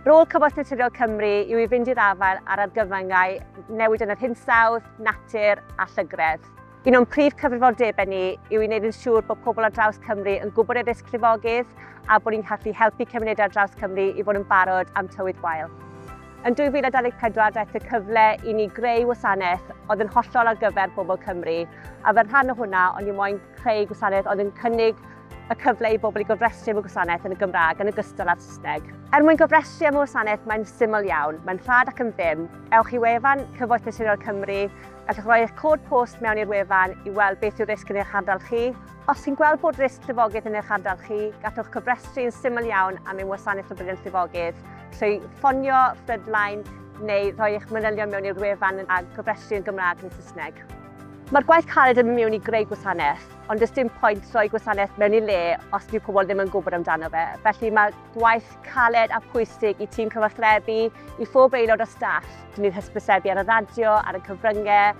Rôl Cymorth Naturiol Cymru yw i fynd i'r afael ar argyfyngau newid yn yr hinsawdd, natur a llygredd. Un o'n prif cyfrifoldebau ni yw i wneud yn siŵr bod pobl ar draws Cymru yn gwybod ei risg llifogydd a bod ni'n gallu helpu cymunedau ar draws Cymru i fod yn barod am tywydd gwael. Yn 2024 daeth y cyfle i ni greu wasanaeth oedd yn hollol ar gyfer bobl Cymru, a fel rhan o hwnna, o'n i moyn creu gwasanaeth oedd yn cynnig y cyfle i bobl i gofrestru am y gwasanaeth yn y Gymraeg yn ogystal â'r Saesneg. Er mwyn gofrestru am y wasanaeth mae'n syml iawn, mae'n rhad ac yn ddim. Ewch i wefan Cyfoeth Naturiol Cymru, gallwch roi eich cod post mewn i'r wefan i weld beth yw'r risg yn eich ardal chi. Os chi'n gweld bod risg llifogydd yn eich ardal chi, gallwch cofrestru yn syml iawn am ein wasanaeth o briliant llifogydd. trwy ffonio Frontline neu rhoi eich manylion mewn i'r wefan a gofrestru yn Gymraeg neu Saesneg. Mae'r gwaith caled yn mynd mewn i greu gwasanaeth, ond does dim pwynt rhoi gwasanaeth mewn i le os dyw pobl ddim yn gwybod amdano fe. Felly mae gwaith caled a phwysig i tîm cyfathrebu, i phob aelod o staff. Dyn ni'n hysbysebu ar y radio, ar y cyfryngau,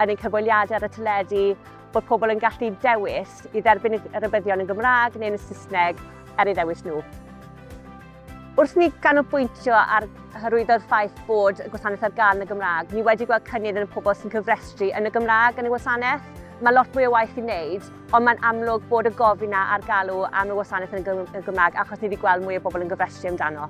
yn ein cyfweliadau ar y teledu, bod pobl yn gallu dewis i dderbyn y rybuddion yn Gymraeg neu yn y Saesneg er ei ddewis nhw. Wrth ni ganolbwyntio ar hyrwyddo'r ffaith bod y gwasanaeth ar gael yn y Gymraeg, ni wedi gweld cynnydd yn y pobl sy'n cyfrestru yn y Gymraeg yn y wasanaeth. Mae lot mwy o waith i wneud, ond mae'n amlwg bod y gofyn yna a'r galw am y wasanaeth yn y Gymraeg achos ni wedi gweld mwy o bobl yn gyfrestru amdano.